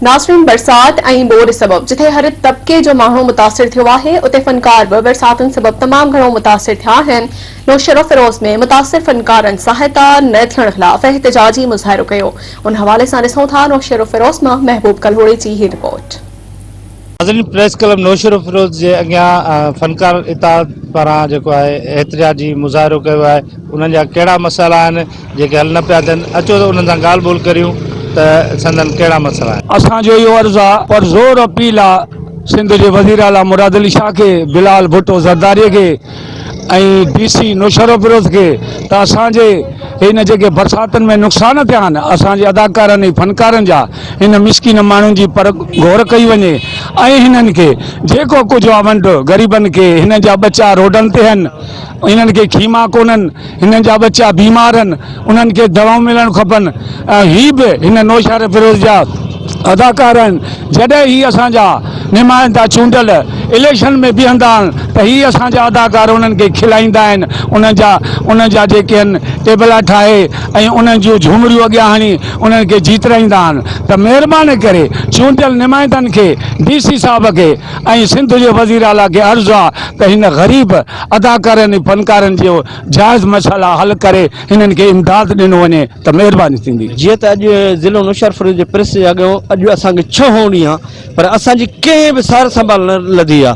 ناصرين برسات ۽ ٻوڏ سبب جتي هر طبقي جو ماڻهو متاثر ٿيو آهي اتي فنڪار به برساتن سبب تمام گهڻو متاثر ٿيا آهن نوشهروفيروز ۾ متاثر فنڪارن سهائتا نه ٿيڻ خلاف احتجاجي مظاهرو ڪيو ان حوالي سان ڏسون ٿا نوشهروفيروز مان محبوب ڪلهوڙي جي هي رپورٽ. ناظرين پريس ڪلب نوشهروفيروز جي اڳيان فنڪار اتحاد پاران جيڪو آهي احتجاجي مظاهرو ڪيو آهي انهن جا ڪهڙا مسئلا آهن جيڪي حل نه پيا ٿين اچو ته انهن سان ڳالهه ٻولهه ڪريون ته سندن ڪهڙا مسئلا آهن. اسان جو اهو عرض آ پر زور اپيل آ سنڌ جي وزيراعليٰ مراد علي شاهه کي، بلال ڀٽو زرداري کي، ۽ ڊي سي نوشهروفيروز کي ته اسان جي هن جيڪي برساتن ۾ نقصان ٿيا آهن اسان جي اداڪارن ۽ فنڪارن جا هن مسڪين ماڻهن جي پر گهور ڪئي وڃي ۽ هنن کي جيڪو ڪجهه آ ونڊ غريبن کي هنن جا ٻچا روڊن تي آهن هنن کي خيما ڪونهن هنن جا ٻچا بيمار آهن، انهن کي دوائون ملڻ کپن ۽ هي به هن نوشهرفيروز جا اداڪار آهن، جڏهن هي اسان جا نمائندا چونڊيل اليڪشن ۾ بيهندا آهن ته هي اسان جا اداڪار انهن کي کلائيندا آهن، انهن جا انهن جا جيڪي آهن ٽيبلا ٺاهي ۽ انهن جون جهومريون اڳيان هڻي انهن کي جيترائيندا آهن ته مهرباني ڪري چونڊيل نمائندن کي ڊي سي صاحب کي ۽ سنڌ جي وزيراعليٰ کي عرض آهي ته هن غريب اداڪارين ۽ فنڪارن جي جائز مسئلا حل ڪري هنن کي امداد ڏنو وڃي ته مهرباني ٿيندي. جيئن ته اڄ ضلعو نوشهرفرود جي پريس جي اڳيان اڄ اسان کي ڇهون ڏينهن آ پر اسان جي ڪنهن به سار سنڀال نه لڌي آ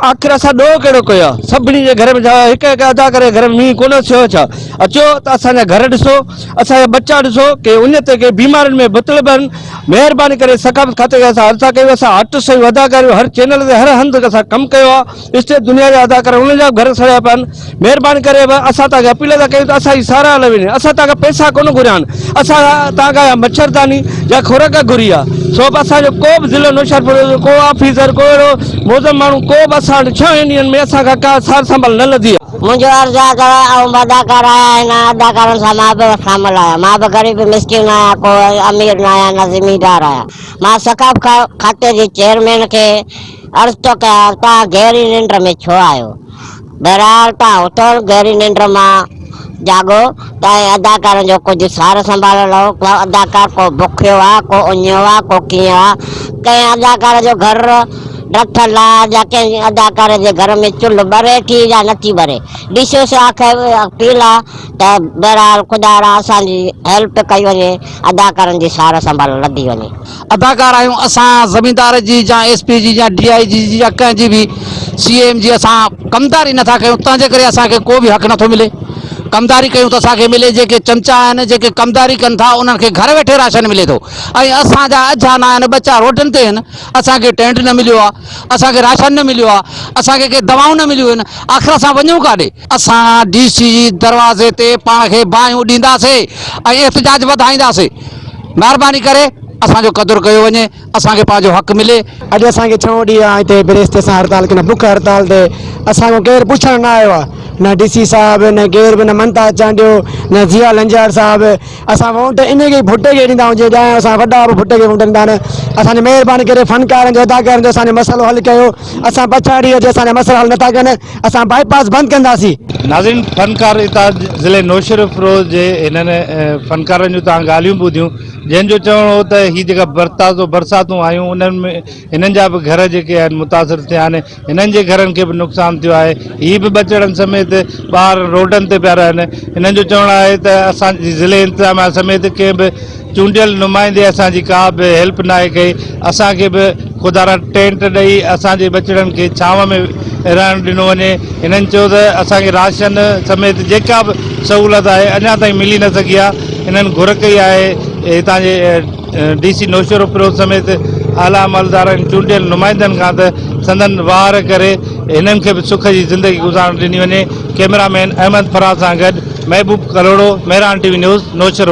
آخر اسان ڏوهه ڪهڙو ڪيو آ سڀني جي گهر ۾ ڇا هڪ هڪ اداڪار جي گهر ۾ مينهن ڪونه ٿيو آ ڇا اچو ته اسان جا گهر ڏسو اسان جا ٻچا ڏسو ڪي اڃ تائين ڪي بيمارين ۾ مبتلب آهن مهرباني ڪري ثقافت کاتي کي اسان عرض ٿا ڪيون اسان هٽ سيون اداڪاريون هر چينل تي هر هنڌ اسان ڪم ڪيو آ اسٽيج دنيا جا اداڪار انهن جا به گهر سڙيا پيا آهن مهرباني ڪري اسان توهان کي اپيل ٿا ڪيون ته اسان جي ساراهه نه وڃي اسان توهان کان پئسا ڪونه گهريا آهن اسان توهان کان يا مڇرداني يا خوراڪ گهري آهي سو به اسان جو ڪو به ضلعي نوشهرپور جو ڪو آفيسر ڪو اهڙو موزم ماڻهو ڪو به اسان وٽ ڇهن ڏينهن ۾ اسان کان ڪا سار سنڀال نه لڌي آهي. منهنجو عرض آهي ته آئون به اداڪار آهيان ۽ انهن اداڪارن سان مان به شامل آهيان مان به غريب مسڪين آهيان ڪو امير نه آهيان نه زميندار آهيان مان ثقافت کاتي جي چيئرمين کي عرض ٿو ڪيان توهان گهري ننڊ ۾ ڇو آهيو؟ بهرحال توهان اٿو گهري ننڊ مان جاڳو ته ۽ اداڪارن جو ڪجهه سار سنڀال لهو. ڪو اداڪار ڪو بکيو آ، ڪو اڃيو آ، ڪو ڪيئن آ. ڪنهن اداڪار جو گهر رٿل آ يا ڪنهن اداڪار جي گهر ۾ چلهه ٻري ٿي يا نٿي ٻري. ڊي سي سان آخر اها اپيل آ ته بهرحال خدارا اسان جي هيلپ ڪئي وڃي اداڪارن جي سار سنڀال لڌي وڃي. اداڪار آهيون اسان زميندار جي يا ايس پي جي يا ڊي آء جي جي يا ڪنهن جي به سي اي ايم جي اسان ڪمداري نٿا ڪيون تنهن جي ڪري اسان کي ڪو به حق نٿو ملي ڪمداري ڪيون ته اسان کي ملي جيڪي چمچا آهن جيڪي ڪمداري ڪن ٿا انهن کي گهر ويٺي راشن ملي ٿو ۽ اسان جا اجها نه آهن ٻچا روڊن تي آهن اسان کي ٽينٽ نه مليو آهي اسان کي راشن نه مليو آهي اسان کي ڪي دوائون نه مليون آهن آخر اسان وڃون ڪاڏي اسان ڊي سي جي دروازي تي پاڻ کي باهيون ڏينداسي ۽ احتجاج وڌائينداسي، مهرباني ڪري اسان جو قدر ڪيو وڃي، اسان کي پنهنجو حق ملي. اڄ اسان کي ڇهون ڏينهن آهي هتي بريستي سان هڙتال ڪنهن بک هڙتال تي اسان کان ڪير پڇڻ نه آيو آهي نه ڊي سي صاحب نه ڪير به نه ممتاز چانڊيو نه ضياء لنجار صاحب اسان وونٽ ان کي ڀٽي کي ڏيندا آهيون جي ڄاڻ اسان وڏا به ڀٽي کي وونٽ ڏيندا آهن اسان جي مهرباني ڪري فنڪارن جو اداڪارن جو اسان جو مسئلو حل ڪيو. اسان پڇاڙيء جي اسان جا مسئلا حل نٿا ڪن، اسان بائي پاس بند ڪنداسين. ناظرين فنڪار اتحاد ضلعي نوشهروفروز جي انهن فنڪارن جون توهان ڳالهيون ٻڌيون جنهن جو چوڻ هو ته هي جيڪا برتازو برساتون آيون انهن ۾ هنن جا به گهر جيڪي آهن متاثر ٿيا آهن هنن جي گهرن کي به نقصان ٿيو آهي هي به ٻچڙن سميت ٻار روڊن تي پيا رهن هنن جو چوڻ آهي ته اسان جي ضلعي انتظاميا سميت ڪنهن به چونڊيل نمائندي اسان جي ڪا به هيلپ ناهي ڪئي اسان کي به خدا را ٽينٽ ڏئي اسان جي ٻچڙن کي ڇانو ۾ رهڻ ڏنو وڃي هنن چيو ته اسان کي راشن سميت جيڪا به سهولت آهي اڃا تائين ملي نه سگهي آهي هنن گهر ڪئي آهي هتان جي ڊي سي نوشهروفيروز سميت اعليٰ عملدارن چونڊيل نمائندن کان ته سندن واهر ڪري هنن کي به سک جي زندگي گذارڻ ڏني وڃي ڪئميرا مين احمد فراز سان گڏ Mehboob Kalhoro Mehran T V news Naushahro.